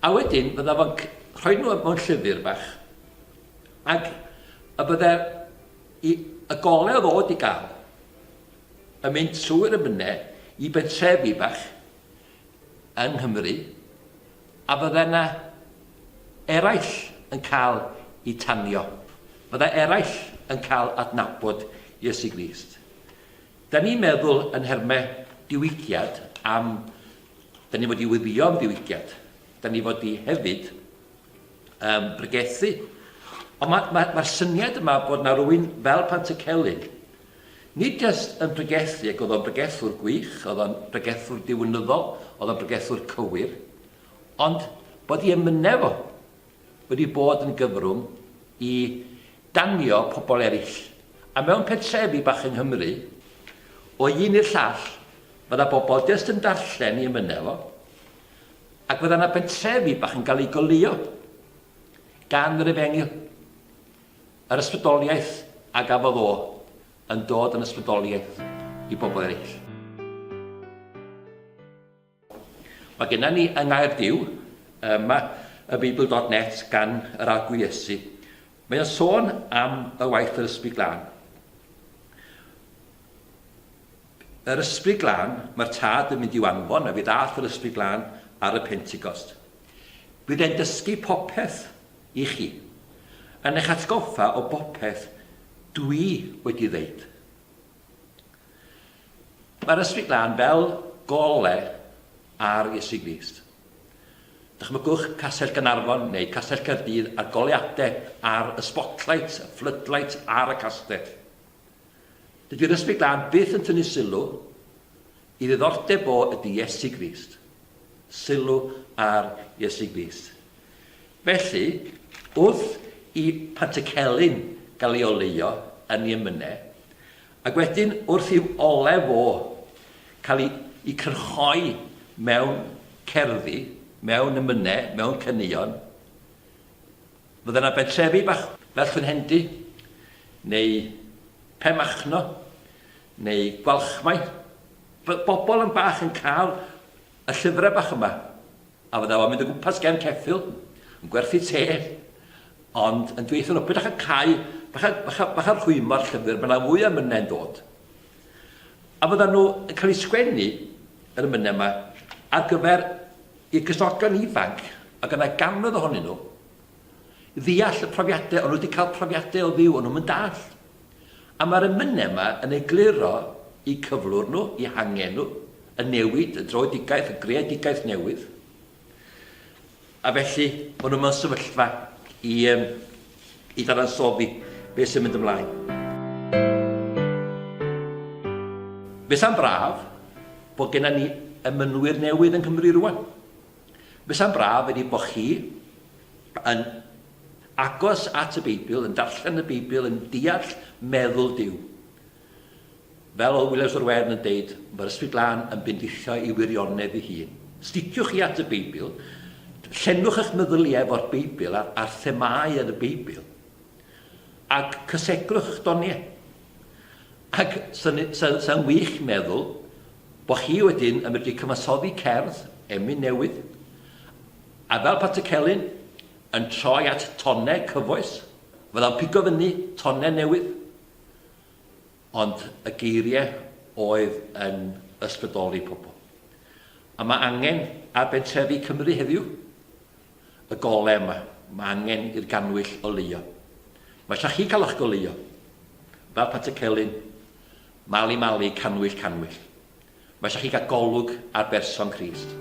A wedyn bydda fo'n c- rhoi nhw mewn llyfr bach ac y bydde i y gole o ddod i gael yn mynd trwy'r amynedd i bentrefi bach yng Nghymru A fydde 'na eraill yn cael eu tanio. Fydde eraill yn cael adnabod Iesu Grist. Dan ni'n meddwl yn nherme diwygiad am dan ni fod i weddïo am ddiwygiad. Dan ni fod i hefyd um, bregethu. Ond mae'r ma, ma syniad yma bod na rwy'n fel Pantycelyn Nid jyst yn pregethu, ac oedd o'n bregethwr gwych, oedd o'n bregethwr diwinyddol, oedd o'n bregethwr cywir, ond bod ei emynau fo wedi bod yn gyfrwng i danio pobl eraill. A mewn pentrefi bach yng Nghymru, o un i'r llall, fydda bobl jyst yn darllen ei emynau fo, ac fydda yna bentrefi bach yn cael eu goleuo gan yr efengyl. Yr ysbrydoliaeth a gafodd o yn dod yn ysbrydoliaeth i bobl eraill. Mae gennym ni yng Nghaerdyw yma y Beibl dot net gan yr Arglwydd Iesu. Mae o'n sôn am y waith yr Ysbryd Glân. Yr Ysbryd Glân, mae'r Tad yn mynd i'w anfon a fe ddaeth yr Ysbryd Glân ar y Pentecost. Bydd e'n dysgu popeth I chi. Yn eich atgoffa o bopeth dwi wedi ddeud. Mae'r Ysbryd Glân fel gole ar Iesu Grist. Dychmygwch Castell Gaernarfon neu Castell Caerdydd a'r goleuadau a'r y spotlights, y floodlights ar y castell. Dydy'r Ysbryd Glân byth yn tynnu sylw i ddiddordeb fo ydy Iesu Grist. Sylw ar Iesu Grist. Felly, wrth i Pantycelyn gael ei oleuo yn ei emynau, ac wedyn wrth i'w olew fo cael ei ei cyrchoi mewn cerddi, mewn emynau, mewn caneuon, Fydde 'na bentrefi bach fel Llwynhendy, neu Pen Machno, neu Gwalchmai, fydde bobl yn bach yn cael y llyfrau bach yma, a fydde fo'n mynd o gwmpas gefn ceffyl, yn gwerthu te, ond yn dweutho nhw, peidiwch â cau, bach a, bach a, bach a rhwymo'r llyfr, mae yna fwy o emynau'n dod. A fyddan nhw yn cael eu sgwennu, yr emynau yma, ar gyfer i'r cyswltgan ifanc, a ganddo gannoedd ohonyn nhw ddeall y profiadau, ond nhw wedi cael profiadau o fyw ond nhw'n dallt. A mae'r emynau yma yn egluro i cyflwr nhw, i hangen nhw, y newid, y droedigaeth, y greadigaeth newydd. A felly, maen nhw mewn sefyllfa i, i ddadansoddi beth sy'n mynd ymlaen. Fesa'n braf bod gennym ni emynwyr newydd yng Nghymru rwan. Fesa'n braf wedi bod chi yn agos at y Beibl, yn darllen y Beibl, yn deall meddwl Duw. Fel oedd Williams o'r Wern yn deud, mae'r Ysbryd Glân yn bendithio ei wirionedd ei hun. Sticio chi at y Beibl, llenwch eich meddyliau efo'r Beibl a'r, ar themâu yn y Beibl, ac cysegrwch eich doniau. Ac sy'n sy, sy wych meddwl bod chi wedyn yn medru cyfansoddi cerdd, emyn newydd, a fel Pat y Celyn, yn troi at tonau cyfoes, fydda'n pigo fyny tonau newydd, ond y geiriau oedd yn ysbrydoli pobl. A mae angen ar bentrefi Cymru heddiw y golau yma. Mae angen i'r gannwyll oleuo. Mae eisiau chi cael eich goleuo. Fel Pat y Celyn, Mali Mali, Cannwyll Cannwyll. Mae eisiau chi gael golwg ar berson Crist.